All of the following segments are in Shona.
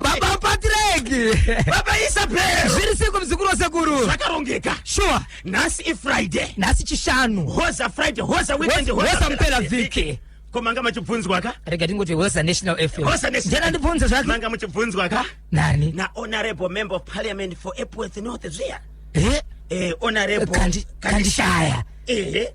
baba patrick baba isabel zviri siko muzukuru wasekuru zvakarongeka shuwa nhasi ifriday nhasi chishanu hoza friday hoza weekend hoza mupera vhiki ko manga machibvunzwa ka rega tingoti hoza national fm hoza national ndibvunza zvake manga muchibvunzwa ka nani na honorable member of parliament for epworth north zviya eh eh honorable kandishaya ehe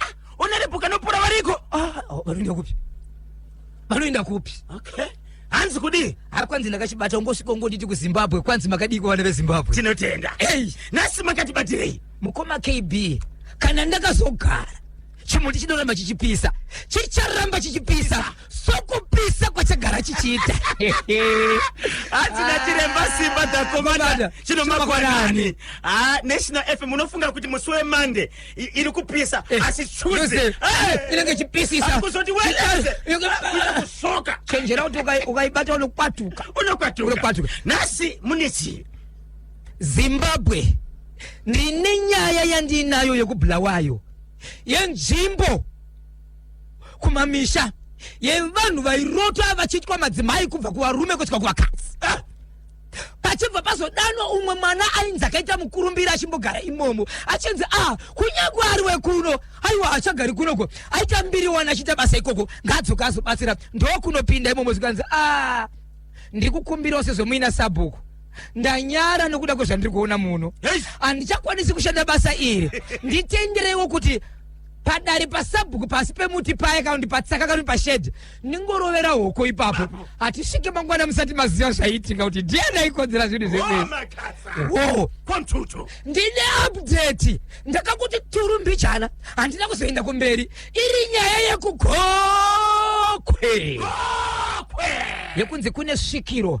Ah, Ona repo kanopora variko. Ah, oh, vanoenda kupi vanoenda kupi Okay. Hanzi kudii? ari kwanzi ndakachibata ungosvika ungonditi kuzimbabwe kwanzi makadiko vana vezimbabwe Tinotenda. Hey. Nasi makatibatirei? mukoma kb kana ndakazogara chimuti chinoramba chichipisa chicharamba chichipisa sokupisa kwachagara chichiita hatina chiremba simba dzakomana Komanda, chinomakwanani chinomakwanani. ha national fm unofunga kuti musi wemande iri kupisa eh, asi chuzi eh, inenge ichipisisa kusoka chenjera kuti ukaibata unokwatuka unokwatuka nhasi mune chii zimbabwe ndine nyaya yandiinayo yekubulawayo yenzvimbo kumamisha yevanhu vairota vachiitwa madzimai kubva kuvarume kusvika kuvakadzi ah! pachibva pazodanwa umwe mwana ainzi akaita mukurumbira achimbogara imomo achinzi a ah, kunyangwe ari wekuno aiwa hachagari kunoko aita mbiri wani achiita basa ikoko ngaadzoka azobatsira ndokunopinda imomo zvikanzi a ah, ndiri kukumbirawo sezvomuina sabhuku ndanyara nokuda kwezvandiri kuona muno handichakwanisi kushanda basa iri nditendereiwo kuti padare pasabhuku pasi pemuti paya kana kuti patsaka kana kuti pashedhi ningorovera hoko ipapo hatisvike mangwana musati maziva zvaiitika kuti ndiani aikonzera zvinhu zveoo ndine update ndakakuti turu mbichana handina kuzoenda kumberi iri nyaya yekugokwe yekunzi kune svikiro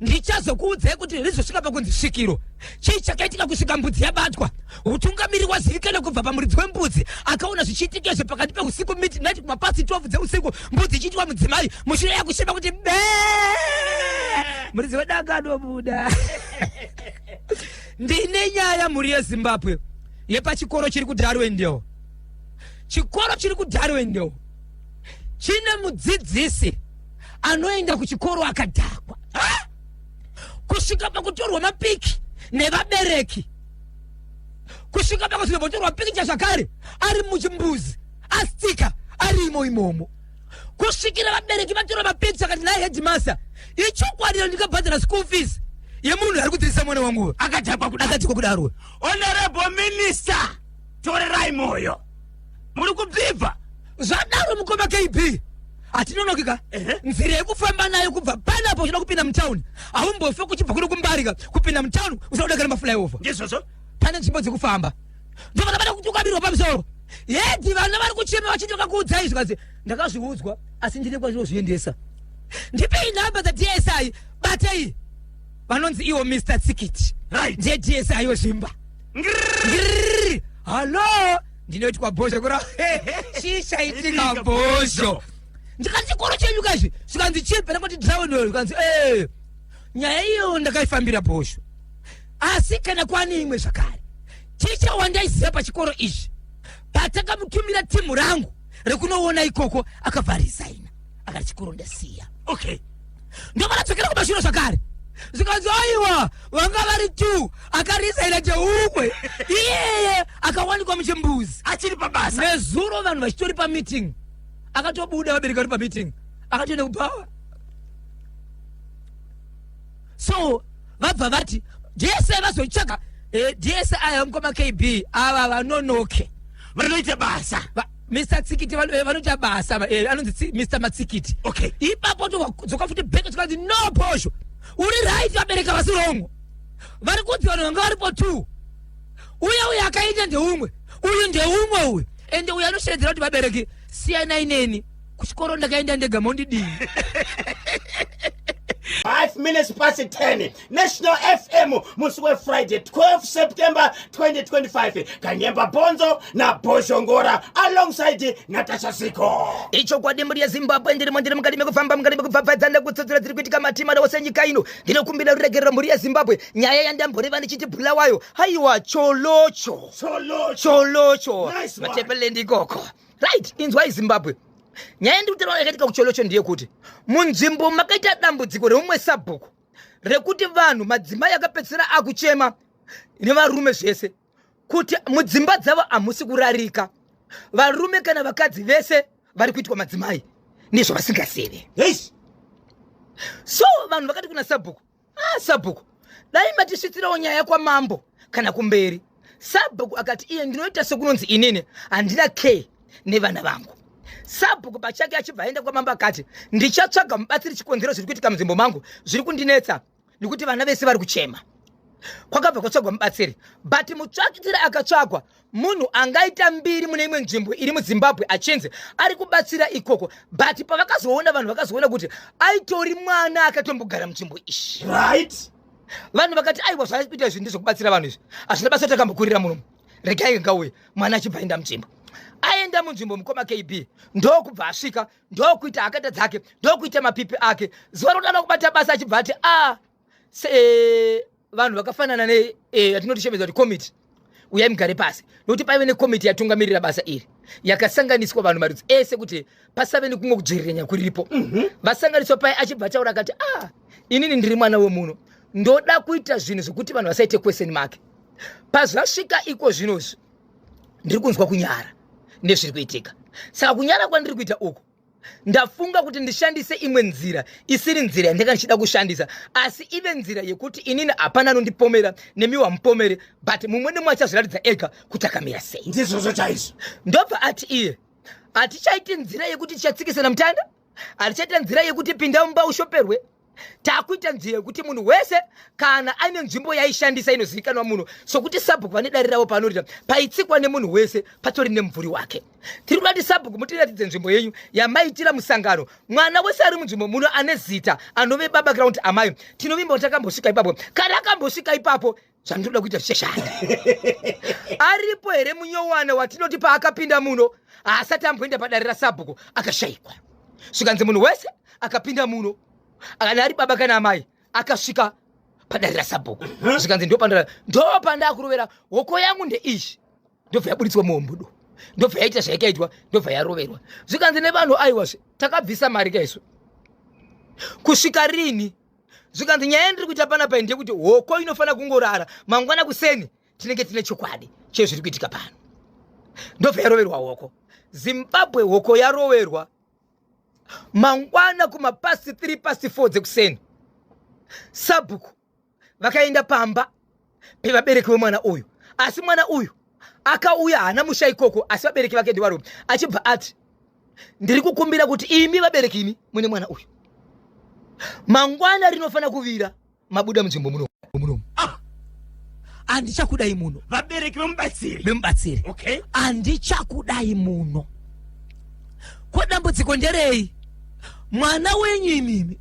ndichazokuudzai kuti rizosvika pakunzi svikiro chii chakaitika kusvika mbudzi yabatwa utungamiri wazivikana kubva pamuridzi wembudzi akaona zvichiitika izvo pakati peusiku midnight kumapasi 12 dzeusiku mbudzi ichiitwa mudzimai mushure yakushema kuti be muridzi wedu akanobuda ndine nyaya mhuri yezimbabwe yepachikoro chiri kudarwendel chikoro chiri kudarwendel chine mudzidzisi anoenda kuchikoro akadhakwa ha? kusvika pakutorwa mapiki nevabereki kusvika pakuti nebotorwa pikicha zvakare ari muchimbuzi astika ari imo imomo kusvikira vabereki vatora mapikicha akati naye hedimasta ichokwadiro ndikabhadhara school fees yemunhu ari kudzidzisa mwana wangu akadhakwa kudakadhikwa kudaro honorable minister torerai moyo muri kubvibva zvadaro mukoma kb hatinonokika Ehe. nzira yekufamba nayo kubva panapo uchida kupinda mutown haumbofe kuchibva kuno kumbarika kupinda mutown usakuda kana maflyover ndizvozvo pane nzvimbo dzekufamba ndovana vada kuti ukabirwa pamusoro hedi vana vari kuchema vachiti vakakuudzai zvikanzi ndakazviudzwa asi ndine kwazvinozviendesa ndipei nhamba dzadsi batei vanonzi iwo mr tsikiti Right. ndiye dsi wezvimba Ngirrrr! Hello? Ndinoitwa bhozho kura. Chii chaitika bhozho? Ndikanzi chikoro chenyu kazve. Zvikanzi chii pera kuti drawn wewe. Zvikanzi eh. Nyaya iyo ndakaifambira bhozho. Asi kana kwani imwe zvakare. Ticha wandaiziva pachikoro ichi. Patakamutumira timu rangu rekunoona ikoko akabva resigna. akati chikuru ndasiya okay ndovaradzokera kumashure zvakare zvikanzi aiwa vanga vari two akarisaira cheumwe iyeye akawanikwa muchimbuzi achiri pabasa nezuro vanhu vachitori pameeting akatobuda vabereki vari pameeting akatoenda kubhawa so vabva vati jese vazotsvaga eh, jese aya mukoma kb ava vanonoke vanoita basa Va- mr tsikiti vano- eh, vanoita basa va- eh, anonzi tsi- mr matsikiti Okay. ipapo todzoka futi back tikanzi no posho uri right vabereka vasi wrong vari kunzi vanhu vanga varipo two uye uyu akaita ndeumwe uyu ndeumwe uyu ende uyu anosheedzera kuti vabereki siyanai neni kuchikoro ndakaenda ndega mondidii Five minutes past 10 national fm musi wefriday 12 september 2025 kanyemba bhonzo nabhozhongora alongside natasha ziko ichokwadi mhuri yezimbabwe ndirimo ndiri mukati mekufamba mukati mekubvabvadza nekutsodzera dziri kuitika matimana ose nyika ino ndinokumbira ruregerero mhuri yezimbabwe nyaya yandamboreva ndichiti bhula wayo haiwa cholocho cholocho cholocho Nice one. matepelende ikoko right inzwai zimbabwe nyaya yendikutirao yakaitika kucholocho ndiye kuti munzvimbo makaita dambudziko reumwe sabhuku rekuti vanhu madzimai akapedzisira akuchema nevarume zvese kuti mudzimba dzavo hamusi kurarika varume kana vakadzi vese vari kuitwa madzimai nezvavasingazivi so vanhu vakati kuna sabhuku ah sabhuku dai matisvitsirawo nyaya kwamambo kana kumberi sabhuku akati iye ndinoita sekunonzi inini handina care nevana vangu sabhuku pachake achibva aenda kwamambo akati ndichatsvaga mubatsiri chikonzero zviri kuitika munzvimbo mangu zviri kundinetsa nekuti vana vese vari kuchema kwakabva kwatsvagwa mubatsiri but mutsvakitiri akatsvagwa munhu angaita mbiri mune imwe nzvimbo iri muzimbabwe achinzi ari kubatsira ikoko but pavakazoona vanhu vakazoona kuti aitori mwana akatombogara munzvimbo ishi right vanhu vakati aiwa zvaaiita izvi ndezvekubatsira vanhu izvi hazvina basa kuti akambokurira murume regai ngauye mwana achibva aenda munzvimbo aenda munzvimbo mukoma kb ndokubva asvika ndokuita akata dzake ndokuita mapipi ake zuva rodanwa kubata basa achibva ati a ah, se eh, vanhu vakafanana ne eh, yatinoti shemedza kuti committee uyai mugare pasi nokuti paive nekomiti yatungamirira basa iri yakasanganiswa vanhu marudzi ese kuti pasave nekumwe kudzvirirenya kuripo mhm. vasanganiswa paye achibva ataura akati ah inini ndiri mwana wemuno ndoda kuita zvinhu zvekuti vanhu vasaite kweseni make pazvasvika iko zvinozvi ndiri kunzwa kunyara nezviri kuitika saka kunyara kwandiri kuita uku ndafunga kuti ndishandise imwe nzira isiri nzira yandanga ndichida kushandisa asi ive nzira yekuti inini hapana anondipomera nemiwa mupomere but mumwe nemwe achazviratidza ega kuti akamira sei ndizvozvo chaizvo ndobva ati iye hatichaiti nzira yekuti tichatsikisana mutanda hatichaita nzira yekuti pinda mumba ushoperwe takuita nzira yekuti munhu wese kana aine nzvimbo yaishandisa inozivikanwa munhu sokuti sabhuku vane dare ravo paanoita paitsikwa nemunhu wese patori nemumvuri wake tiri kuda kuti sabhuku mutiratidze nzvimbo yenyu yamaitira musangano mwana wese ari munzvimbo muno ane zita anove baba ground amai tinovimba kuti akambosvika ipapo kana akambosvika ipapo chandinoda kuita zvichashanda aripo here munyowana watinoti paakapinda muno haasati amboenda padare rasabhuku akashayikwa svikanzi munhu wese akapinda muno kana ari baba kana amai akasvika padare rasabhuku mhm. zvikanzi ndopandaakurovera hoko yangu ndeizvi ndobva yaburitswa muhombudo ndobva yaita zvaikaitwa ndobva yaroverwa zvikanzi nevanhu aiwazve takabvisa mari kaisu kusvika rini zvikanzi nyaya yandiri kuita panapa iyi ndeyekuti hoko inofanira kungorara mangwana kuseni tinenge tine chokwadi chezviri kuitika pano ndobva yaroverwa hoko zimbabwe hoko yaroverwa mangwana kumapasi 3 pasi 4 dzekuseni sabhuku vakaenda pamba pevabereki vemwana uyu asi mwana uyu akauya haana musha ikoko asi vabereki vake ndivarume achibva ati ndiri kukumbira kuti imi vabereki imi mune mwana uyu mangwana rinofanira kuvira mabuda munzvimbo muno muno ah! andichakudai muno vabereki vemubatsiri vemubatsiri okay andichakudai muno ko dambudziko nderei mwana wenyu imimi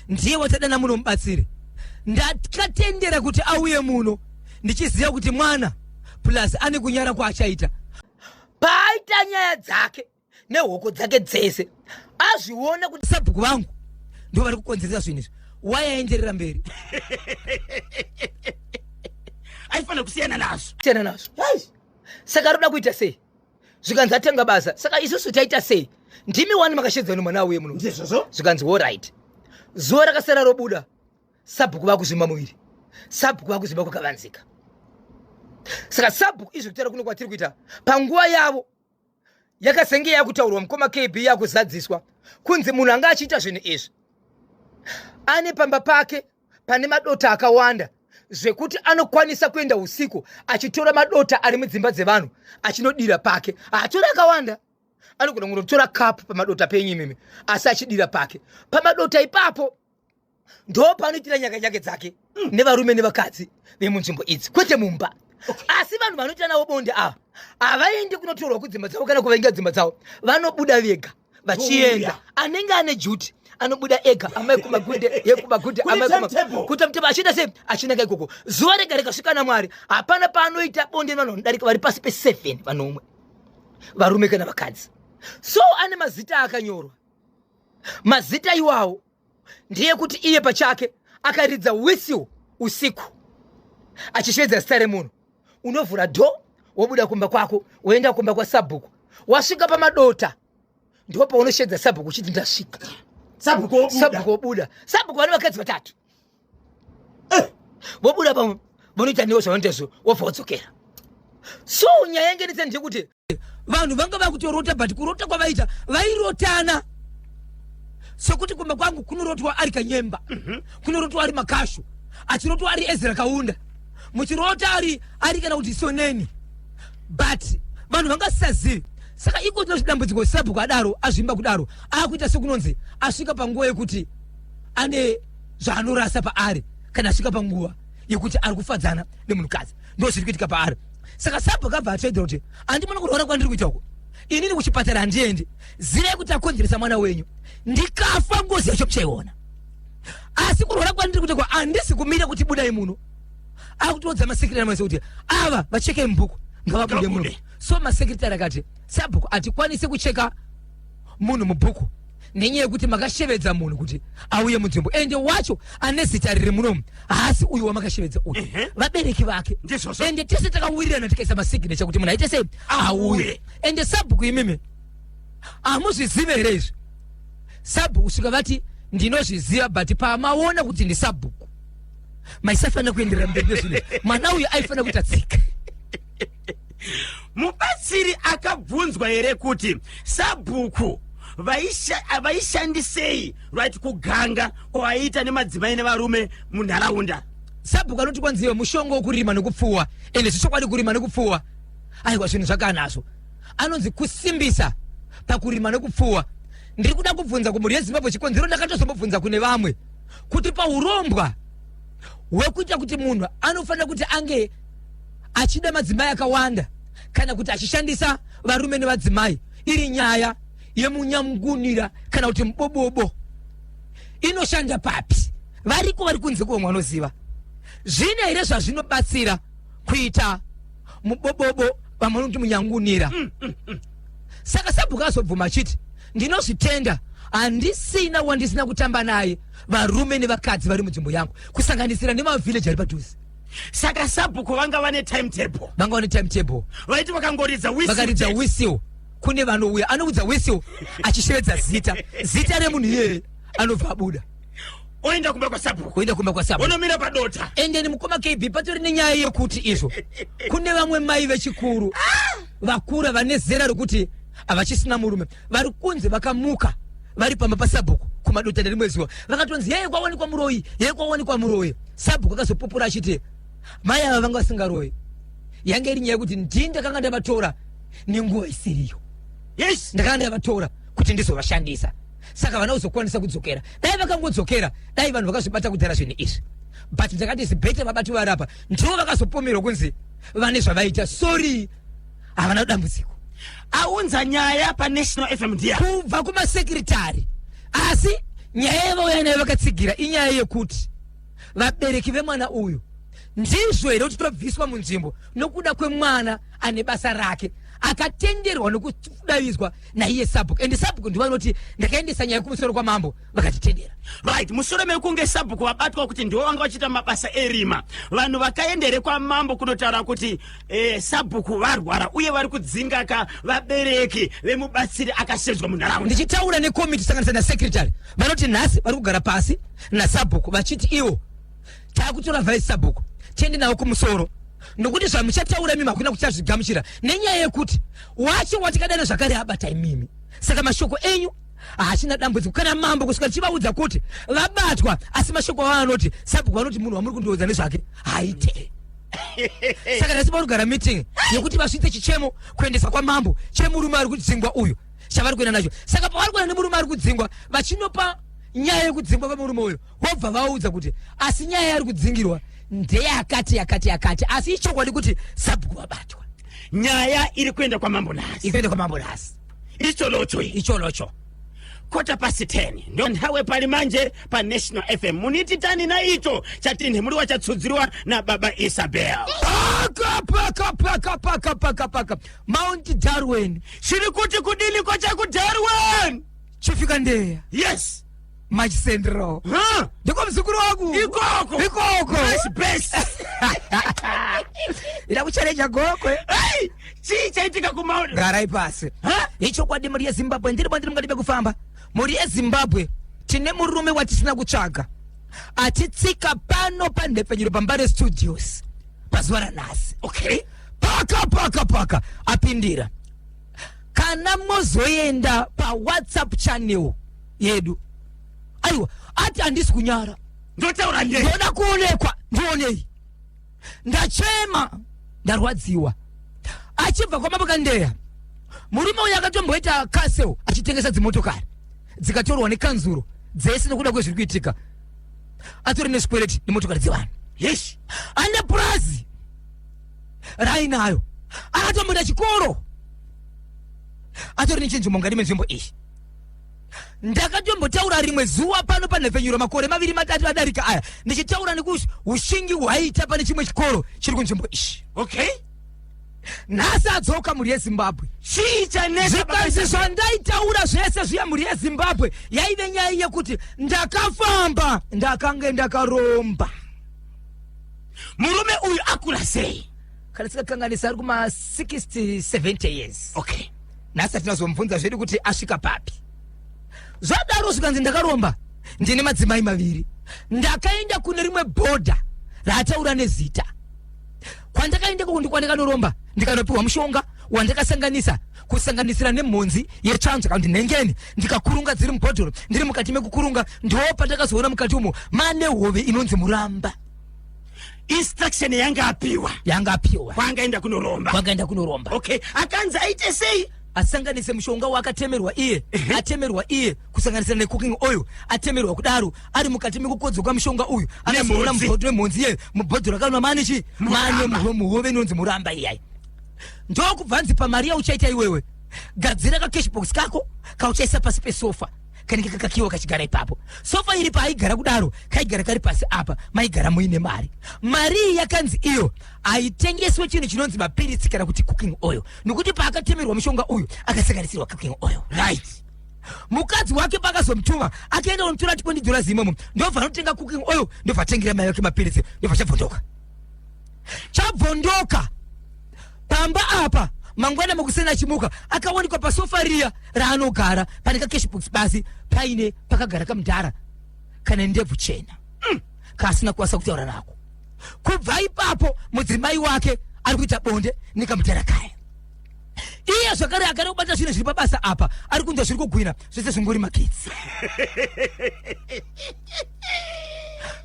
ndiye watadana muno mubatsiri ndakatendera kuti auye muno ndichiziva kuti mwana plus ane kunyara kwaachaita paaita nyaya dzake nehoko dzake dzese azviona kuti sabhuku vangu ndo vari kukonzeresa zvinhu izvi wayaenderera mberi aifanira kusiyana nazvo siyana nazvo saka roda kuita sei zvikanzi atanga basa saka isusu taita sei ndimi wani makashedzwa nemwana auye muno ndizvozvo zvikanzi horit zuva rakasara robuda sabhuku vakuzvimba muviri sabhuku vakuzvimba kwakavanzika saka sabhuku izvi kutaura kuno kwatiri kuita panguva yavo yakasenge yakutaurwa mukoma kb yakuzadziswa kunzi munhu anga achiita zvinhu izvi ane pamba pake pane madota akawanda zvekuti anokwanisa kuenda usiku achitora madota ari mudzimba dzevanhu achinodira pake haatori akawanda anogona kungotora kapu pamadota penyu imimi asi achidira pake pamadota ipapo ndo paanoitira nyakanyake dzake mm. nevarume nevakadzi vemunzvimbo idzi kwete mumba asi vanhu vanoitira navo bonde ava havaendi kunotorwa kudzimba dzavo kana kuvainga dzimba dzavo vanobuda vega vachienda anenge ane juti anobuda ega amai kumagunde yekumagunde amai kuita mutema achienda sei achienda kaikoko zuva rega rikasvika namwari hapana paanoita bonde vanhu vanodarika vari pasi peseven vanomwe varume kana vakadzi so ane mazita akanyorwa mazita iwawo ndeyekuti iye pachake akaridza whistle usiku achisvedza zita remunhu unovhura dho wobuda kumba kwako woenda kumba kwasabhuku wasvika pamadota ndipo paunoshedza sabhuku uchiti ndasvika sabhuku wobuda sabhuku vane vakadzi vatatu eh. vobuda pamwe vonoita newo zvavanoita zvo wobva wodzokera so nyaya yange nditsa ndeyekuti vanhu vanga vakutorota but kurota kwavaita vairotana sokuti kumba kwangu kunorotwa ari kanyemba mm -hmm. kunorotwa ari makashu achirotwa ari ezra kaunda muchirota ari ari kana kuti soneni but vanhu vangasisazivi saka iko tino dambudziko sabhuku adaro azvimba kudaro akuita sekunonzi asvika panguva yekuti ane zvaanorasa paari kana asvika panguva yekuti ari kufadzana nemunhukadzi ndo zviri kuitika paari saka sabho kabva atsaidira kuti andimona kurwara kwandiri kuita uko inini kuchipatara handiendi zivai kuti akonzeresa mwana wenyu ndikafa ngozi yacho muchaiona asi kurwara kwandiri kuita kwa andisi kumira kuti budai muno akutoudza masekretari mese kuti ava vacheke mubhuku ngavabude muno so masekretari akati sabhuku hatikwanise kucheka munhu mubhuku nenyaya yekuti makashevedza munhu kuti auye munzvimbo ende wacho ane zita riri munomu haasi uyu wamakashevedza uyu vabereki vake ende tese takawirirana tikaisa masignature kuti munhu aite sei auye ende sabhuku imimi hamuzvizive here izvi sabhuku kusvika vati ndinozviziva but pamaona kuti ndi sabhuku maisafanira kuenderera mberi nezvine mwana uyu aifanira kuita tsika mubatsiri akabvunzwa here kuti sabhuku vaisha- vaishandisei right kuganga kwavaiita nemadzimai nevarume munharaunda sabhuku anoti kwanzi iwe mushonga wokurima nekupfuwa ende zvechokwadi kurima nekupfuwa aiwa zvinhu zvakanazvo anonzi kusimbisa pakurima nekupfuwa ndiri kuda kubvunza kumhuri yezimbabwe chikonzero ndakatozombobvunza kune vamwe kuti paurombwa hwekuita kuti munhu anofanira kuti ange achida madzimai akawanda kana kuti achishandisa varume nevadzimai iri nyaya yemunyamungunira kana kuti mubobobo inoshanda papi variko vari kunze kuvo mwanoziva zvine here zvazvinobatsira kuita mubobobo vamanoti munyangunira mm, mm, mm. saka sabhuku azobvuma achiti ndinozvitenda handisina wandisina kutamba naye varume nevakadzi vari munzvimbo yangu kusanganisira nemavhileji ari padhuze saka sabhuku vanga vane timetable vanga vane timetable vaiti vakangoridza vakaridza whistle kune vanouya anoudza whistle achishevedza zita zita remunhu iyeye anobva abuda oenda kumba kwasabhuku oenda kumba kwasabhuku onomira padota endeni mukoma kb patori nenyaya yekuti izvo kune vamwe mai vechikuru vakura vane zera rekuti havachisina murume vari kunzi vakamuka vari pamba pasabhuku kumadota nerimwe zuva vakatonzi yeye kwawanikwa muroyi yeye kwawanikwa muroyi sabhuku akazopupura achiti mai ava vanga vasingaroyi yange iri nyaya yekuti ndii ndakanga ndavatora nenguva isiriyo yes ndakanga ndavatora kuti ndizovashandisa saka vana kuzokwanisa kudzokera dai vakangodzokera dai vanhu vakazvibata kudhara zvinhu izvi but ndakati zibhete vabati varapa ndivo vakazopomerwa kunzi vane zvavaita sorry havana dambudziko aunza nyaya panational fm ndiya kubva kumasekretari asi nyaya yavauya nayo vakatsigira inyaya yekuti vabereki vemwana uyu ndizvo here kuti tobviswa munzvimbo nokuda kwemwana ane basa rake akatenderwa nokudavidzwa naiye sabhuku and sabhuku ndivo anoti ndakaendesa nyaya kumusoro kwamambo vakatitedera right mushure mekunge sabhuku vabatwa kuti ndivo vanga vachiita mabasa erima vanhu vakaenda here kwamambo kunotaura kuti eh, sabhuku varwara uye vari kudzingaka vabereki vemubatsiri akasedzwa munharaunda ndichitaura nekomiti sanganisa nasekretary vanoti nhasi vari kugara pasi nasabhuku vachiti iwo taakutora vice sabhuku tiende navo kumusoro nokuti zvamuchataura imimi hakuna kuchazvigamuchira nenyaya yekuti wacho watikadana zvakare abata imimi saka mashoko enyu hachina dambudziko kana mambo kusvika tichivaudza kuti vabatwa asi mashoko avo anoti sabhuku vanoti munhu wamuri kundiudza nezvake haite saka nhasi vanogara meeting yekuti vasvitse chichemo kuendesa kwamambo chemurume ari kudzingwa uyu chavari kuenda nacho saka pavari kuenda nemurume ari kudzingwa vachinopa nyaya yekudzingwa kwemurume uyu vobva vaudza kuti asi nyaya yari kudzingirwa ndeyakati yakati yakati asi ichokwadi kuti sabhuku vabatwa nyaya iri kuenda kwamambo nhasi ikuenda kwamambo nhasi icholocho icholocho kota pasi 10 ndo nthawe pali manje pa national fm munititani na icho chatinhi muli wachatsudziriwa na baba isabel Paka, paka, paka, paka, paka, paka. Mount Darwin. chiri kuti kudini ko chakudarwen Chifika ndeya. yes March Central. Huh? Ndiko mzukuru wangu. Ikoko. Ikoko. Nice best. Ila kuchareja gokwe. Hey! Chii chaitika kumauri? Gara ipasi. Huh? Ichokwadi muri yeZimbabwe ndiri bandiri mungadibe kufamba. Muri yeZimbabwe tine murume watisina kutsvaga. Atitsika pano panhepfenyuro pambare studios. Pazuva ranhasi. Okay. Paka paka paka apindira. kana mozoenda pawhatsapp channel yedu aiwa ati handisi kunyara ndotaura nei ndoda kuonekwa ndionei ndachema ndarwadziwa achibva kwamabakandeya murume uyu akatomboita casel achitengesa dzimotokari dzikatorwa nekanzuro dzese nokuda kwezviri kuitika atori nezvikwereti nemotokari dzevanhu yeshi ane purazi raainayo akatomboenda chikoro atori nechinzvimbo mukati menzvimbo iyi ndakatombotaura rimwe zuva pano panhepfenyuro makore maviri matatu adarika aya ndichitaura nekuti ushingi hwaiita pane chimwe chikoro chiri kunzvimbo iyi okay nhasi adzoka mhuri yezimbabwe chii chanetsa zvikanzi zvandaitaura zvese zviya mhuri yezimbabwe yaive nyaya yekuti ndakafamba ndakange ndakaromba murume uyu akura sei kana sikakanganisa ari kuma 60 70 years okay nhasi atinazomubvunza zvedu kuti asvika papi zvadaro zvikanzi ndakaromba ndine madzimai maviri ndakaenda kune rimwe bhodha raataura nezita kwandakaenda koko ndikwandikanoromba ndikanopiwa mushonga wandakasanganisa kusanganisira nemhonzi yetsvanzva kana kuti nhengeni ndikakurunga dziri mubhodhoro ndiri mukati mekukurunga ndiwo pandakazoona mukati umo mane hove inonzi muramba instruction yanga apiwa yanga apiwa kwaangaenda kunoromba kwakaenda kunoromba okay akanzi aite sei asanganise mushonga waakatemerwa iye atemerwa iye kusanganisa necooking oil atemerwa kudaro ari mukati mekukodzwa kwamushonga uyu anazorora Nemhodzi. mubhodhoro remhonzi iyeyo mubhodhoro rakanwa mane chi mane Muramba. muho- muhove inonzi muramba iyayi ndokubva anzi pamari yauchaita iwewe gadzira kacashbox kako kauchaisa pasi pesofa kanenge kakakiwa kachigara ipapo sofa iri paaigara kudaro kaigara kari pasi apa maigara muine mari mari iyi yakanzi iyo haitengeswe chinhu chinonzi mapiritsi kana kuti cooking oil nokuti paakatemerwa mushonga uyu akasanganisirwa cooking oil right mukadzi wake pakazomutuma akaenda kunotora tikondi dhora zimomo ndobva anotenga cooking oil ndobva atengera mai vake mapiritsi ndobva chabvondoka chabvondoka pamba apa mangwana makuseni achimuka akawanikwa pasofa riya raanogara pane kakeshbox basi paine pakagara kamudhara kane ndebvu chena mm. kaasina kuwasa kutaura nako kubva ipapo mudzimai wake ari kuita bonde nekamudhara kaya iye zvakare agare kubata zvinhu zviri pabasa apa ari kunzwa zviri kugwina zvese zvingori makitsi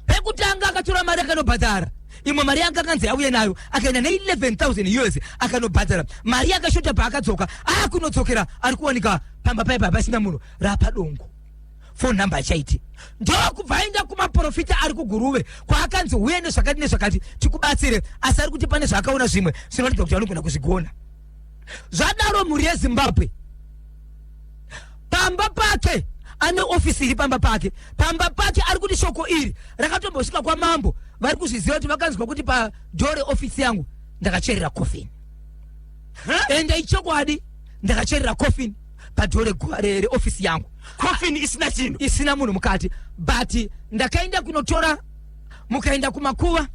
pekutanga akatora mari akanobhadhara imwe mari yanga akanzi auye nayo akaenda ne11000 us akanobhadhara mari yakashota paakadzoka akunodzokera ari kuwanika pamba paipa pasina munhu rapadongo phone number hachaiti ndokubva aenda kumaprofita ari kuguruve kwaakanzi uye nezvakati nezvakati tikubatsire asi ari kuti pane zvaakaona zvimwe zvinoratidza kuti anogona kuzvigona zvadaro mhuri yezimbabwe pamba pake ane ofisi iri pamba pake pamba pake ari kuti shoko iri rakatombosvika kwamambo vari kuzviziva kuti vakanzwa kuti padhore ofisi yangu ndakacherera kofini and ichokwadi ndakacherera coffin padhoo regu- re- reofisi yangu coffin isina chinhu isina munhu mukati but ndakaenda kunotora mukaenda kumakuva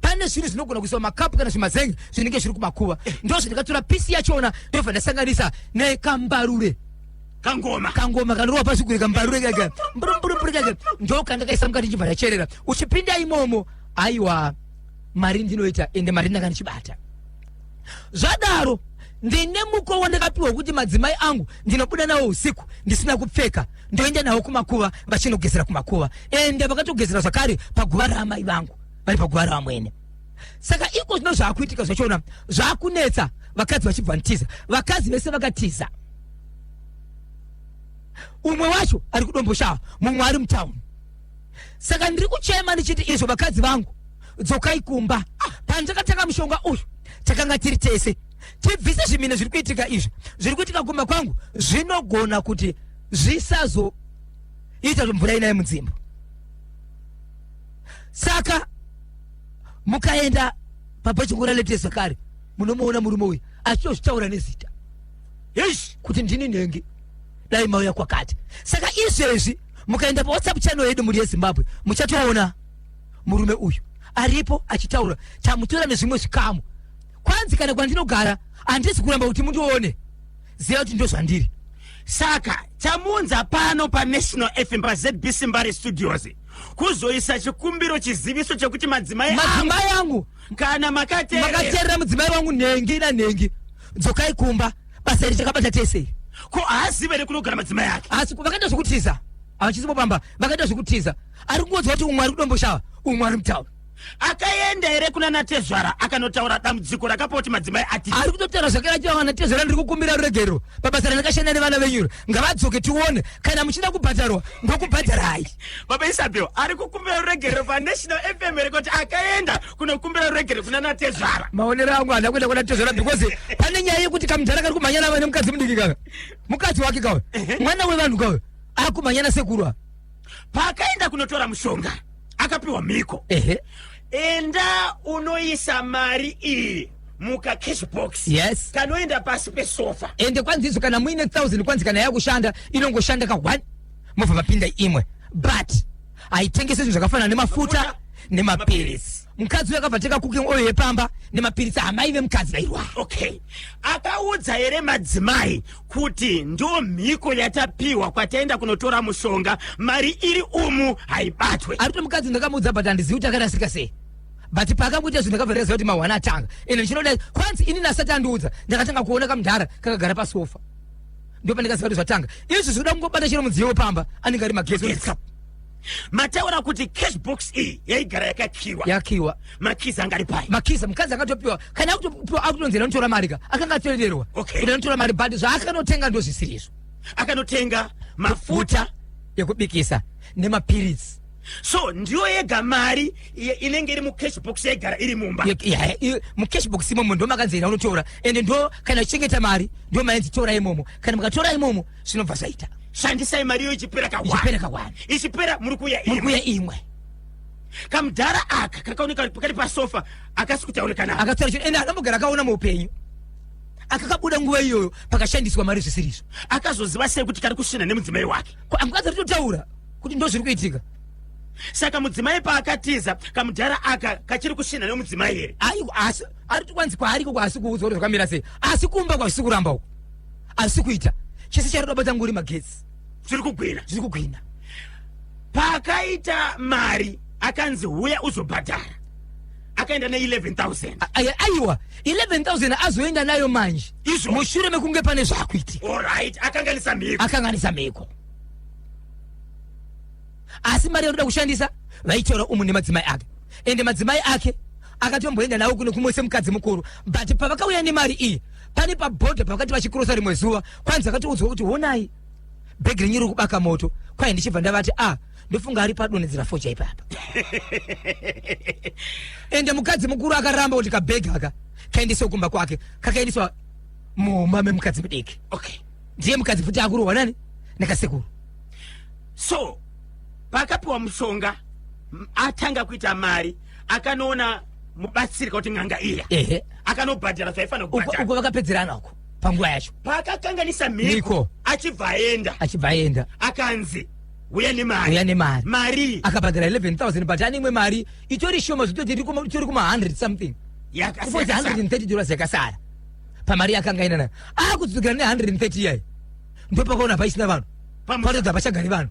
pane zvinhu zvinogona kuiswa makapu kana zvimazengi zvinenge zviri kumakuva ndo zvandikatora pisi yachona ndobva ndasanganisa nekambarure kangoma kangoma kanorova pasi kure kambarure kaka mburumburumburumbu kaka ndo kandakaisa mukati ndichibva ndacherera uchipinda imomo aiwa mari ndinoita ende mari ndanga ndichibata zvadaro ndine muko wandakapiwa wekuti madzimai angu ndinobuda nawo usiku ndisina kupfeka ndoenda nawo kumakuva vachinogezera kumakuva ende vakatogezera zvakare paguva raamai vangu vari paguva ravamwene saka iko zvino zvaakuitika zvachona zvaakunetsa vakadzi vachibva ntiza vakadzi vese vakatiza umwe wacho ari kudomboshaa mumwe ari mutauni saka ndiri kuchema ndichiti izvo vakadzi vangu dzokai kumba ah, pandakatanga mushonga uyu takanga tiri tese tibvise zvimine zviri kuitika izvi zviri kuitika kumba kwangu zvinogona kuti zvisazoita zvomvura inaye mudzimba saka mukaenda pabhachingura lete zvakare munomuona murume uyu achitozvitaura nezita kuti ndini nhengi dai mauya kwakati saka izvezvi mukaenda pawhatsapp channel yedu muri yezimbabwe muchatoona murume uyu aripo achitaura tamutora nezvimwe zvikamu kwanzi kana kwandinogara handisi kuramba kuti mundione ziva kuti ndozvandiri saka chamunza pano panational fm pazbc mbare studios kuzoisa chikumbiro chiziviso chekuti madzimai madzimai angu kana makateerera makateerera mudzimai wangu nhengi nanhengi dzokai kumba basa iri takabata tese ko haazive here kunogara madzimai ake asi vakaita zvekutiza havachisipo pamba vakaita zvekutiza ari kungoziva kuti umwe ari kudomboshava umwe ari mutaura akaenda here kuna natezvara akanotaura dambudziko rakapo kuti madzimai ati ari kutotaura zvakera chivawa natezvara ndiri kukumbira ruregerero pabasa randakashanda nevana venyuro ngavadzoke tione kana muchida kubhadharwa ndokubhadharai baba isabel ari kukumbira ruregerero panational fm here kuti akaenda kunokumbira regere kuna natezvara maonero angu hana kuenda kuna tezvara because pane nyaya yekuti kamudhara kari kumhanyana vane mukadzi mudiki kaka mukadzi wake kawe mwana wevanhu kawe akumhanyana sekurwa paakaenda kunotora mushonga akapiwa mhiko ehe enda unoisa mari iyi muka cash box Yes. kanoenda pasi pesofa ende kwanzi izvo kana muine thousand kwanzi kana yakushanda inongoshanda ka one mobva mapinda imwe but aitengesa zvinhu zvakafanana nemafuta nemapiritsi mukadzi uyo akabva teka cooking oil yepamba nemapiritsi amai vemukadzi vairwara okay akaudza here madzimai kuti ndo mhiko yatapiwa kwataenda kunotora mushonga mari iri umu haibatwe ari kuti mukadzi ndakamuudza but handizivi kuti akarasika sei but paakangoita zvinhu ndakabva ndaziva kuti mahwana atanga ende ndichinoda kwanzi ini nasati andiudza ndakatanga kuona kamudhara kakagara pasofa ndipo pandikaziva kuti zvatanga izvi zvikuda kungobata chero mudziyo wepamba anenge ari magezi mataura kuti cash box iyi yaigara yakakiwa yakiwa makizi anga ari pai makizi mukadzi akatopiwa kana akutopiwa akutonzera anotora mari ka akanga atoererwa okay. kuti anotora mari but zvaakanotenga ndo zvisiri izvo akanotenga mafuta yekubikisa nemapiritsi so ndiyo yega mari inenge iri mucash box yaigara iri mumba mucash box imomo ndo makanzira unotora ende ndo kana uchengeta mari ndo mainzi tora imomo kana mukatora imomo zvinobva zvaita shandisai mari iyo ichipera kaipera kawani ichipera muri kuya muri kuya imwe kamudhara aka kakaoneka kari pasofa akasi kutaurika nao akataura chino ende akambogara akaona muupenyu akakabuda nguva iyoyo pakashandiswa mari zvisirizvo akazoziva sei kuti kari kusvina nemudzimai wake ko amukadzi ritotaura kuti ndozviri kuitika saka mudzimai paakatiza kamudhara aka kachiri kushinha nemudzimai here aiwa asi ari kwanzi kwaariko kwaasi kuudzwa kuti zvakamira sei asi kumba kwazvisi kuramba uko asi kuita chese charoda bata nguri magetsi zviri kugwina zviri kugwina paakaita mari akanzi huya uzobhadhara akaenda ne 11000 A- aya- aiwa 11000 azoenda nayo manje Izvo. mushure mekunge pane zvaakuitika olright akanganisa mhiko akanganisa mhiko asi mari yaunoda kushandisa vaitora umu nemadzimai ake ende madzimai ake akatomboenda nawo kuno kumwe semukadzi mukuru but pavakauya nemari iyi pane pabhodha pavakati vachikurosa rimwe zuva kwanzi akatoudzwa kuti honai bhegi renyu riri kubaka moto kwaye ndichibva ndavati a ah, ndofunga ari padonhedzera focha ipapa ende mukadzi mukuru akaramba kuti kabhegi aka kaendeswa kumba kwake kakaendeswa mumba memukadzi mudiki okay ndiye mukadzi futi akurohwa nani nekasekuru so paakapiwa mushonga atanga kuita mari akanoona mubatsiri kuti n'anga iya ehe akanobhadhara zvaifanira kubhadhara uko vakapedzerana uko panguva yacho paakakanganisa mhiko achibva aenda achibva aenda akanzi uya nemari uya nemari mari akabhadhara 11000 but ane imwe mari itori shoma zvitoti itori kuma 100 something yakasiyana 130 dollars yakasara pamari yakanga inana akudzikira ne 130 iyayi ndopakaona paisina vanhu patoda pachagari vanhu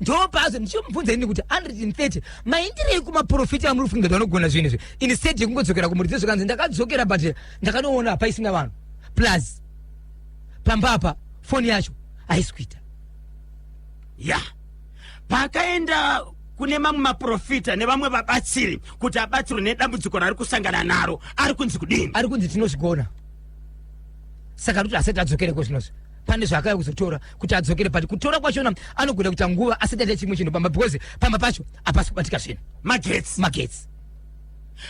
ndopazo ndichimubvunza ini kuti 130 maindirei kumaprofiti amuri kufunga kuti vanogona zvinhu izvi instead yekungodzokera kumuridzo zvikanzi ndakadzokera but ndakanoona hapaisina vanhu plus pamba apa foni yacho haisi kuita ya yeah. paakaenda kune mamwe maprofita nevamwe vabatsiri kuti abatsirwe nedambudziko raari kusangana naro ari kunzi kudini ari kunzi tinozvigona saka kuti asati adzokere kozvinozvi pane zvaakaya kuzotora kuti adzokere but kutora kwachona anogona kuita nguva asati aita chimwe chinhu pamba because pamba pacho hapasi kubatika zvinhu magetsi magetsi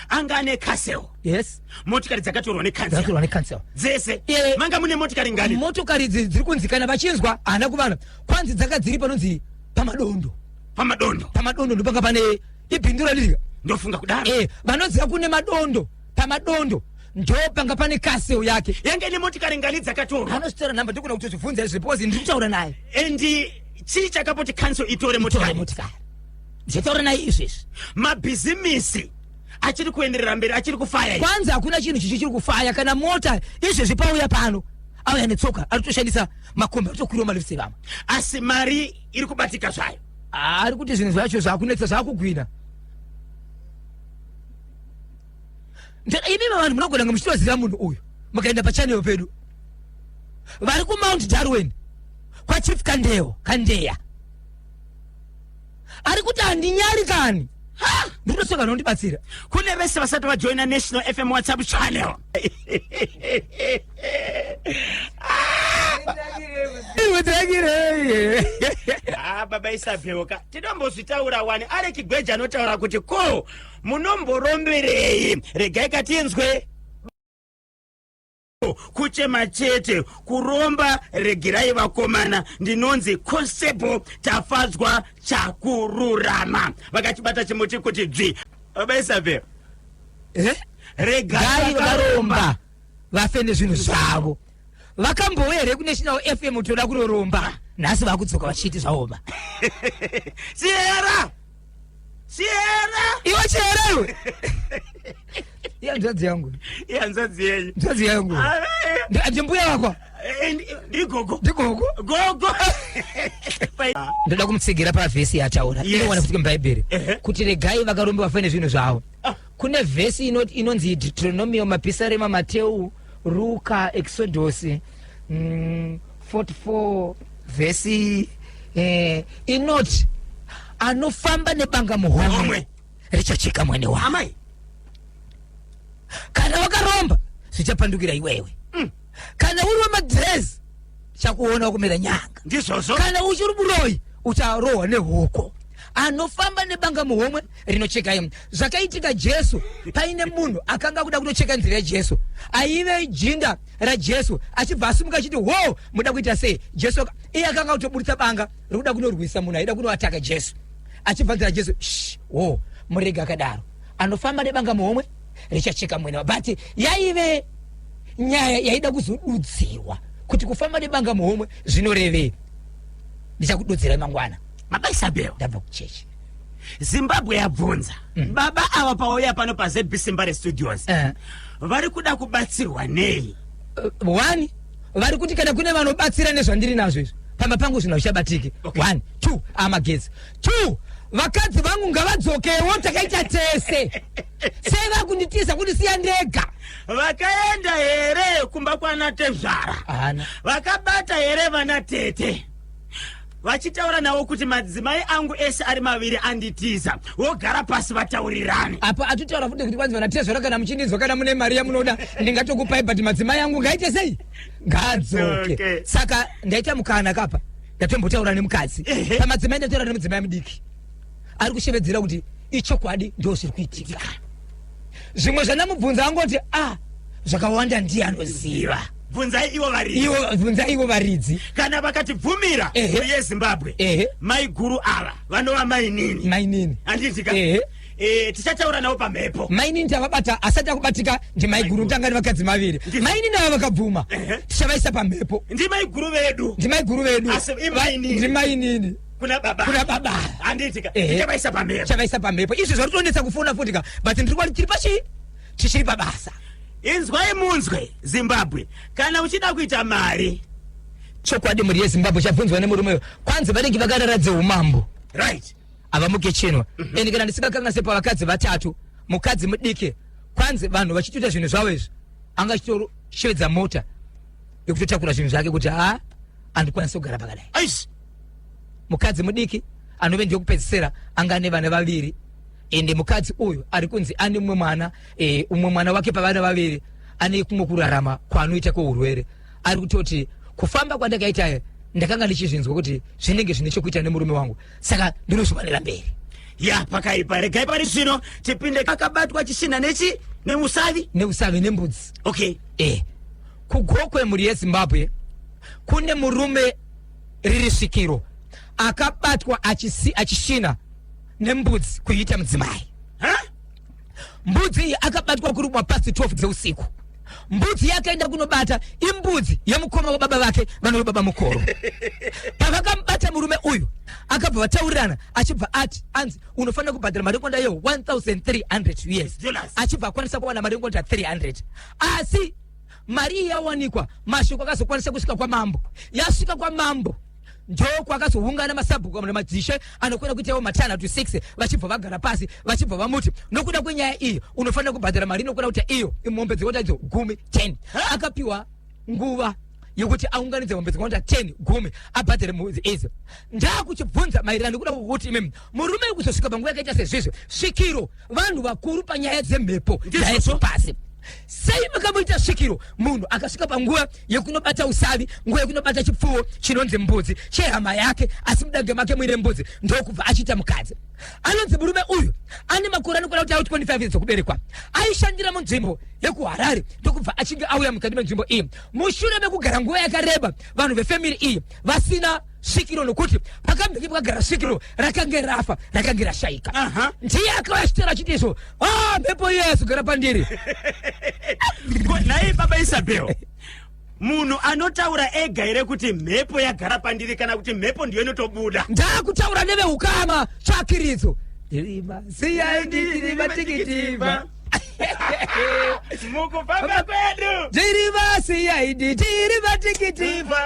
anga ane casel yes motikari dzakatorwa necancel necancel dzese yeah. manga mune motikari ngani motokari idzi dziri kunzi kana vachinzwa haana kuvana kwanzi dzanga dziri panonzi pamadondo pamadondo pamadondo ndopanga pane ibindu ralirika ndofunga kudaro eh vanoziva kune madondo pamadondo ndopanga pane casel yake yanga ine motikari ngani dzakatorwa anozitora nhamba ndikuna kuti zvibvunza izvi because ndiri kutaura naye and chii chakapoti cancel itore motikari Zvatauranai izvezvi mabhizimisi achiri kuenderera mberi achiri kufaya kwanzi hakuna chinhu chichi chiri kufaya kana mota izvezvi pauya pano auya netsoka anotoshandisa makombi atokwiriwa malift evamwe asi mari iri kubatika zvayo ah, ari kuti zvinhu zvacho zvakunetsa zvakugwina imima vanhu munogona kunge muchitoziva munhu uyu mukaenda pachanel pedu vari kumount darwin kwachief kandeyo kandeya ari kuti handinyari kani Ha! ndiri kutoseka nondibatsira kune vese vasati vajoina national fm whatsapp channel iwedzakirei Ah, baba isabheuka tinombozvitaura wani ari kigweja anotaura kuti ko munomboromberei regai katinzwe kuchema chete kuromba regerai vakomana ndinonzi constable tafadzwa chakururama vakachibata chimuti kuti dzvi abaisave eh? regai varomba vafe nezvinhu zvavo vakambouya here kunational fm toda kuroromba nhasi vakudzoka vachiti zvaoma siera chihera iwe chihera iwe iya nzadzi yangu iya nzadzi yenyu nzadzi yangu ah, eh. ndimbuya wako eh, ndigogo ndigogo gogo ndoda kumutsigira pavhesi yataura inowana futi mubhaibheri kuti regai vakarombewa fane zvinhu zvavo ah. kune vhesi inonzi deuteronomio mapisarema mateu ruka exodosi mm, 44 vhesi eh, inoti anofamba nebanga muhomwe richacheka mwene wa amai kana wakaromba zvichapandukira iwewe mm. kana uri wemadhirezi chakuona kumira nyanga ndizvozvo kana uchiri muroyi ucharohwa nehuko anofamba nebanga muhomwe rinochekai zvakaitika jesu paine munhu akanga kuda kutocheka nzira yajesu aive jinda rajesu achibva asimuka achiti wo muda kuita sei jesu iye akanga kutoburitsa banga rikuda kunorwisa munhu aida kunoataka jesu achibva nzira jesu wo murege akadaro anofamba nebanga muhomwe richacheka mwene but yaive nyaya yaida kuzodudzirwa kuti kufamba nebanga muhomwe zvinorevei ndichakududzirai mangwana mabaisabewo ndabva kuchechi zimbabwe yabvunza mm. baba ava pauya pano pazbc mbare studios uh. vari kuda kubatsirwa nei uh, one vari kuti kana kune vanobatsira nezvandiri nazvo izvi pamba pangu zvinhu hazvichabatike okay. one two amagezi two vakadzi vangu ngavadzokewo takaita tese sei vakunditiza kuti siya ndega vakaenda here kumba kwana tezvara vakabata here vana tete vachitaura navo kuti madzimai angu ese ari maviri anditiza vogara pasi vataurirane apa atitaura futi kuti kwanzi vanatezvara kana muchindinzwa kana mune mari yamunoda ndingatokupai but madzimai angu ngaite sei ngaadzoke okay. saka ndaita mukana kapa ndatombotaura nemukadzi pamadzimai ndataura nemudzimai mudiki ari kushevedzera kuti ichokwadi ndozviri kuitika zvimwe zvandamubvunza angoti ah zvakawanda ndiye anoziva bvunzai ivo varidzi ivo bvunza ivo varidzi kana vakatibvumira Ehe. mhuri yezimbabwe Ehe. maiguru ava vanova mainini mainini handitika Ehe. Eh, tichataura navo pamhepo mainini tavabata asati akubatika ndimaiguru tanga ndi vakadzi maviri Ndi- mainini ava vakabvuma Ehe. tichavaisa pamhepo ndi maiguru vedu ndimaiguru vedu Asi imainini. ndimainini kuna baba kuna baba handiitika Ehe. ndichavaisa pamhepo chavaisa pamhepo izvi zviri kutonetsa kufona futi ka but ndiri kuva tiri pachii tichiri pabasa inzwai munzwe zimbabwe kana uchida kuita mari chokwadi mhuri yezimbabwe chabvunzwa nemurume uyo kwanzi vanenge vakarara dzeumambo right avamuke chinwa and kana ndisingakanganise pavakadzi vatatu mukadzi mudiki kwanzi vanhu vachitoita zvinhu zvavo izvi anga achitoshevedza mota yekutotakura zvinhu zvake kuti ha andikwanisi kugara pakadai aish mukadzi mudiki anove ndiyokupedzisira anga ane vana vaviri ende mukadzi uyu ari kunzi ane umwe mwana e, umwe mwana wake pavana vaviri ane kumwe kurarama kwaanoita kweurwere ari kutoti kufamba kwandakaita ndakanga ndichizvinzwa kuti zvinenge zvine chokuita nemurume wangu saka ndinozviwanira mberi ya pakaipa regai pari zvino tipinde akabatwa chisina nechi neusavi neusavi nembudzi okay e kugokwe mhuri yezimbabwe kune murume riri svikiro akabatwa achisi, achisvina nembudzi kuiita mudzimai mbudzi iyi akabatwa kurumwa pasi 12 dzeusiku mbudzi yakaenda kunobata imbudzi yemukoma wababa vake vanove baba mukoro pavakamubata murume uyu akabva vataurirana achibva ati anzi unofanira kubhadhara mari yekonda yeho 1300 us achibva akwanisa kuwana mari yekonda 300 asi mari iyi yawanikwa mashoko akazokwanisa kusvika kwamambo yasvika kwamambo ndoko akazoungana masabhuku madzishe anokona kuitawo matana to six vachibva vagara pasi vachibva vamuti nokuda kwenyaya iyi unofanira kubhadhara mari inokona kuita iyo imombe dzekota idzo gumi ten akapiwa nguva yekuti aunganidze mombe dzekota ten gumi abhadhare mudzi idzo ndakuchibvunza maererano nekuda kwokuti imimi murume uri kuzosvika panguva yakaita sezvizvi svikiro vanhu vakuru panyaya dzemhepo Ndizvozvo. pasi sei makamuita svikiro munhu akasvika panguva yekunobata usavi nguva yekunobata chipfuwo chinonzi mbudzi chehama yake asi mudange make muine mbudzi ndokubva achiita mukadzi anonzi murume uyu ane makore anokwana kuti auti 25 years okuberekwa aishandira munzvimbo yekuharare ndokubva achinge auya mukati menzvimbo iyi mushure mekugara nguva yakareba vanhu vefamiri iyi vasina sikiro nokuti pakambenge pakagara sikiro rakange rafa rakange rashaika Aha. ndiye akauya chitera achiti so ah mhepo iye yazogara pandiri Ko nhai baba isabel munhu anotaura ega here kuti mhepo yagara pandiri kana kuti mhepo ndiyo inotobuda ndakutaura neveukama tsvakiridzo Irima, siya ndiri matikiti, ma. mukufamba kwedu tiri vasiyaidi tiri vatikitiva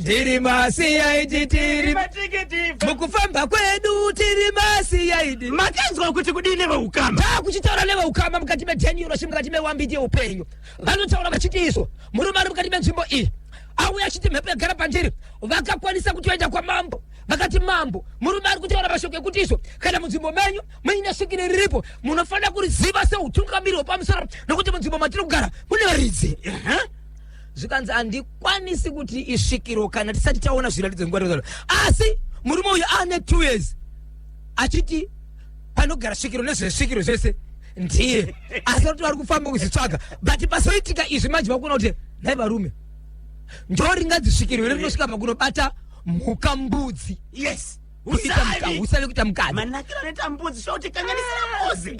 tiri masiyaidi tiri vatikitiva mukufamba kwedu tiri masiyaidi makanzwa kuti kudii neveukama taa kuchitaura neveukama mukati metenyuroshi mukati mewambiti yeupenyu vanotaura vachiti iso murume ari mukati menzvimbo iyi auya achiti mhepo yagara pandiri vakakwanisa kutoenda kwamambo vakati mambo murume ari kutaura mashoko ekuti iso kana munzvimbo menyu muine svikiro riripo munofanira kuriziva seutungamiri hwepamusoro nokuti munzvimbo matiri kugara mune varidzi Ehe. zvikanzi handikwanisi kuti isvikiro kana tisati taona zviratidzo zvinguva asi murume uyu ane two years achiti panogara svikiro nezvesvikiro zvese ndiye asi kuti vari kufamba kuzvitsvaga but pasoitika izvi manje vakuona kuti nhai varume ndoringadzisvikiro here rinosvika pakunobata mhuka mbudzi yes usale kuita mukadzi manakiro anoita mbudzi zvauti kanganisira mbuzi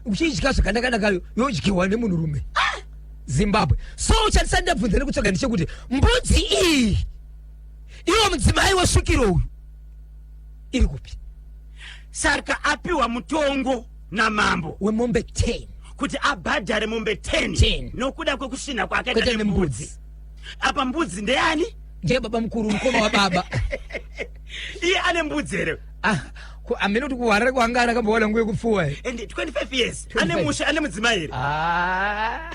uchidya zvakanaka nakayo yodyiwa nemunhu rume zimbabwe so uchatisa ndabvunza nekutsvaga ndichekuti mbudzi iyi iwo mudzimai wesvikiro uyu iri kupi saka apiwa mutongo namambo wemombe 10 kuti abhadhare mombe 10 nokuda kwekusvina kwakaita nembudzi apa mbudzi ndeyani ndiye baba mukuru mukoma wababa iye ane mbudzi here ah, amene kuti kuharare kwangana akambowana nguye kupfuwa and 25 years ane musha ane mudzimai here ah.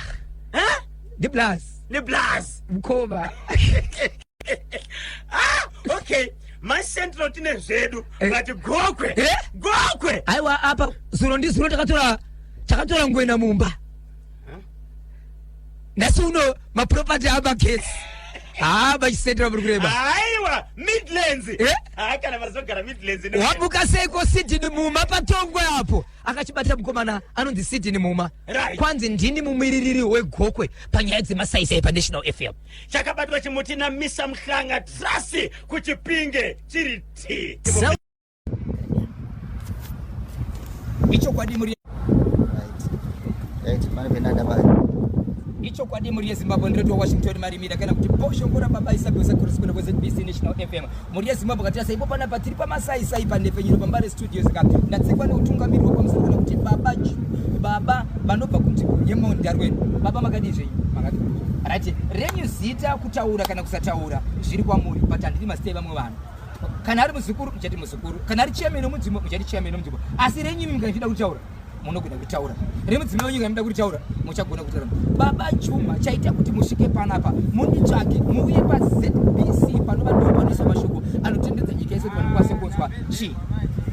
ndi blas ndi blas mukoma ah, okay macentral tine zvedu eh. but gokwe eh? gokwe aiwa apa zuro ndi zuro takatora takatora ngwena mumba nhasi uno maproperty amagesi haa machisetera muri kureba aiwa midlands Eh? haa kana varizogara midlands ino- wabuka seiko sidini muma patongwe apo akachibatira mukomana anonzi sidini muma Right. kwanzi ndini mumiririri wegokwe panyaya dzemasaisai panational fm chakabatwa chimuti namisa mhlanga trasi kuchipinge chiri ti Sa- ichokwadi muri ichokwadi muri yezimbabwe ndiroti wawashington marimira kana kuti boshongora baba isabesa kurisikuno kwezbc national fm muri yezimbabwe katira saipo pana patiri pamasaisai panhepfenyuro pambare studios ka ndatsekwa neutungamiri wekwamusoro kana kuti baba baba vanobva kunzvimbo yemondarweni baba makadii zvenyu makati right renyu zita kutaura kana kusataura zviri kwamuri but handiri masitei vamwe vanhu kana ari muzukuru uchati muzukuru kana ari chiyameno mudzimbo uchati chiyameno mudzimbo asi renyu mimi kanaida kutaura munogona kutaura remudzimai wenyu kanaida kutaura muchagona kutaura baba chuma chaita kuti musvike panapa munditsvake muuye pazbc panova ndo panoisa mashoko anotendedza nyika yese kuti vanhu kwase kunzwa chii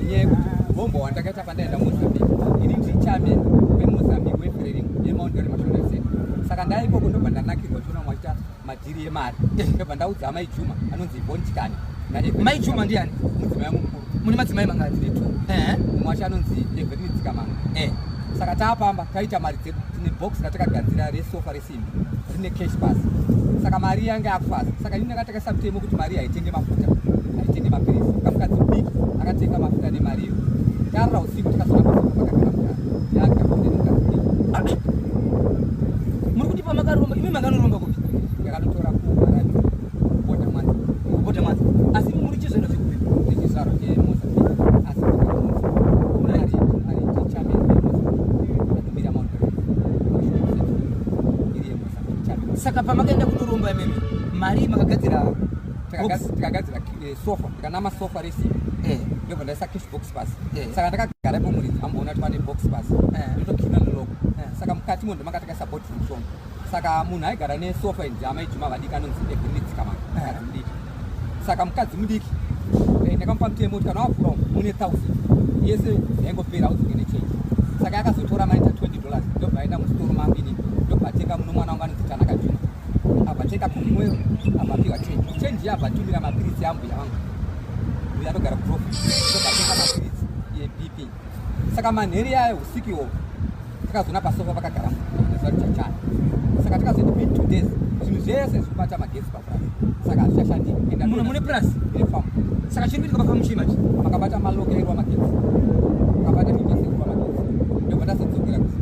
nyaya yekuti hombo wandakaita pandaenda mozambique ini ndiri chamen wemozambique weferering yemaundore mashona saka ndaikoko ndobva ndanakirwa chiona mwachita madhiri emari eh. ndobva ndaudza amai juma anonzi ivon chikani mai juma ndiani mudzimai wangu mukuru mune madzimai mangana tine two eh. mumwe wacho anonzi everini dzikamanga eh. saka taapamba taita mari dzedu tine box ratakagadzira resofa resimbi rine cash bas saka mari yange akufaza saka ini ndakatakasa mutemo kuti mari haitenge mafuta haitenge mapirisi kamukadzi mudiki akatenga mafuta nemariyo tarora usiku tikazonaa muri kuti pamakaromba imi makanoromba kupi ndakatotora kuota mwanza kuota mwanza asi muri chizvero chekupi ndechizvaro chemoza saka pamakaenda kunoromba imimi mari makagadzira takagadzira sofa ndikanama sofa resimbi eh. ndobva ndaisa cash box pasi eh. saka ndakagara ipo muridzi amboona kuti pane box pasi eh. ndotokina neloko saka mukati mo ndimanga takaisa bot mushonga saka munhu aigara nesofa inzi amai juma vadiki anonzi evinitsikamaai mudiki saka mukadzi mudiki ndakamupa mutemo kuti kana wavhura mune thousand yese yaingopera auzinge nechange saka yakazotora maita 20 dollars ndobva aenda musitoro mambini ndobva atenga muno mwana wangu anonzi tanaka juma abvateka kumweyo abvapiwa chenji chenji iyo abvatumira mapiritsi ambuya vangu uyo anogara kuprofi obvatenga mapiritsi ebp saka manheri yayo usiku iwovo takazoona pasofa pakagara muzuva richachana saka takazoita mid two days zvinhu zvese zvikubata magesi papurasi saka hazvichashandi endamuno mune purasi ine famu saka chiri kuitika pafamu chii manje makabata malokerwa magesi makabata migesi ekurwa magesi ndobva tazodzokera kusi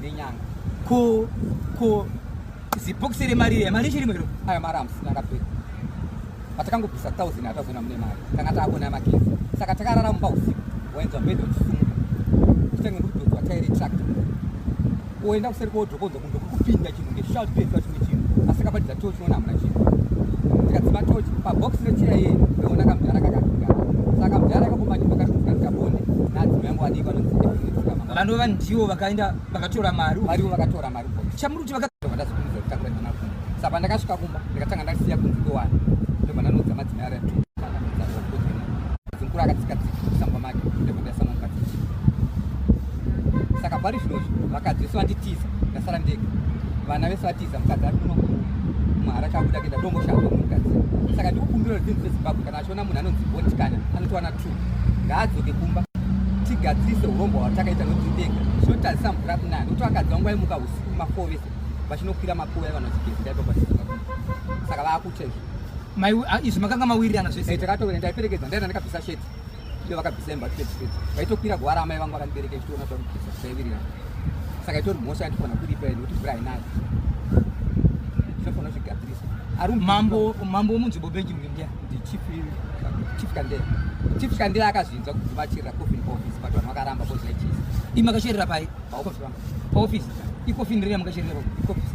nenyanga ko ko zibhokisi remari iya mari chirimo iro aya mari amusina akapera patakangobvisa thousand atazona mune mari tanga taakona yamakezi saka takarara mumba usiku wainzwa mbedha uchisumuka kutange ndokudodzwa tairi tractor oenda kuseri kodhokonza kundokuku kupinda chinhu ngeshout asi kabatidza tochi unoona hamuna chinhu tikadzima tochi pabox recheya iye ndoona kamudhara kakakugara saka kamudhara kakomanyindo kari kutika ndikabone nadzima yangu adii vanonzi vanhu vanhu ndivo vakaenda vakatora mari varivo vakatora mari chamuri kuti vakadazokuudza kuti takura ndina kumba sa pandakasvika kumba ndikatanga ndasiya kunzi ndowani ndobva ndanoudza madzimai aratu Mukuru akatsika tsika musamba make nekuti ndasama mukadzi saka pari zvinozvi vakadzi vese vanditiza ndasara ndega vana vese vatiza mukadzi ari kuno mahara chabuda kuenda dongoshava mukadzi saka ndikukumbira rudzinzi rwezimbabwe kana achiona munhu anonzi votikana anotowana t ngaadzoke kumba tigadzirise urombo hwatakaita notindega zvinotadzisa mvura kunana nokuti vakadzi vangu vaimuka usiku mafoo vese vachinokwira makuva evanhu vachigezida ipapaisaka vaku Ah, izvi makanga mawirirana zvese eh, takatowira ndaiperekedza ndaenda ndikabvisa sheti iyo vakabvisa imba tepedzi vaitokwira guwara amai vangu vakandibereka ichitoona zvakubvisa zvaiwirirana saka itori mhosva yandifana kuripa ende kuti mvura hainayo zvinofanira zvigadzirisa mambo mambo womunzvimbo benji mndia ndichief chief kandela chief kandela akazvinzwa kuti vachirira coffin office but vanhu vakaramba kozvaichisa imakasherera pai paofisi paofisi ikofini rine makasherera paofisi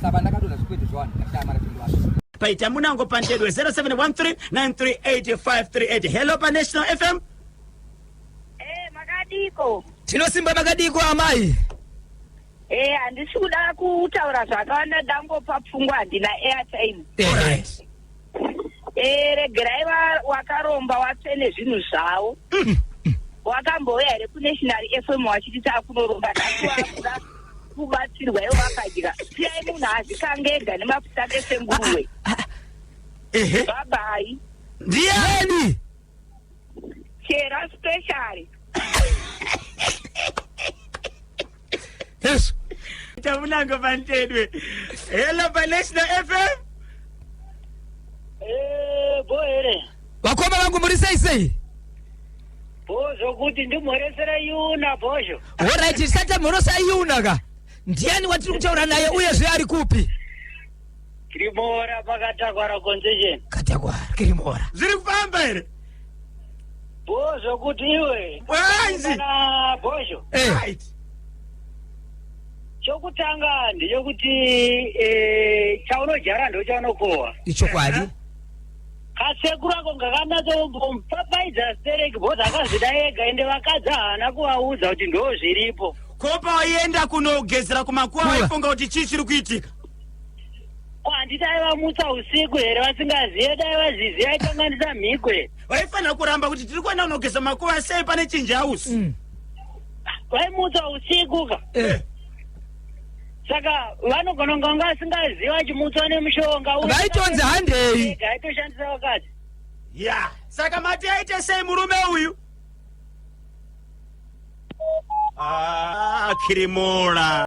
Saba ndakadona zvikwete zvawani ndakashaya mari pindu wacho. Paita munango pandedwe 0713938538. Hello pa National FM. Eh, makadiko. Tinosimba makadiko amai. Eh, handisi kuda kutaura zvakawanda dangopa pfungwa handina airtime. All right. Eh, regerai va- wakaromba watsvene zvinhu zvavo wakambouya here kunational fm wachiti takunoromba nhasi wakuda kubatsirwa ivo vakadya siyai munhu azikange ega nemafuta ese nguruwe ehe babai ndiyani Chera special. Yes. Tamunanga pantedwe. Hello pa National FM. Eh, bo here. Vakoma vangu muri sei sei? Bo zvokuti ndimhoresera Yuna bozho. Alright, tisata mhorosa Yuna ka. Ndiani watiri kutaura naye uye zve ari kupi? Kiribora pakatakwara concession. Katakwara kiribora. Zviri kufamba here? Bo zvokuti iwe. Wanzi. Na bosho. Eh. Right. Chokutanga ndechokuti eh chaunojara ndochaunokowa. Ichokwadi. Eh? kasekuru ako ngakanatsomupapaidza stereki bhozi akazvida ega ende vakadzi haana kuvaudza kuti ndo zviripo ko pawaienda kunogezera kumakuwa waifunga kuti chii chiri kuitika ko handiti aivamutsa usiku here vasingazive dai vaziziva aikanganisa mhikwe vaifanira kuramba kuti tiri kuenda kunogeza makuva sei pane chinji house Mm. vaimutsa usiku ka Eh. saka vanogona kunge vanga vasingazivi vachimutswa nemushonga uyu. Vaitonzi handei. Ega, aitoshandisa vakadzi ya saka mati aite sei murume uyu Ah, kirimola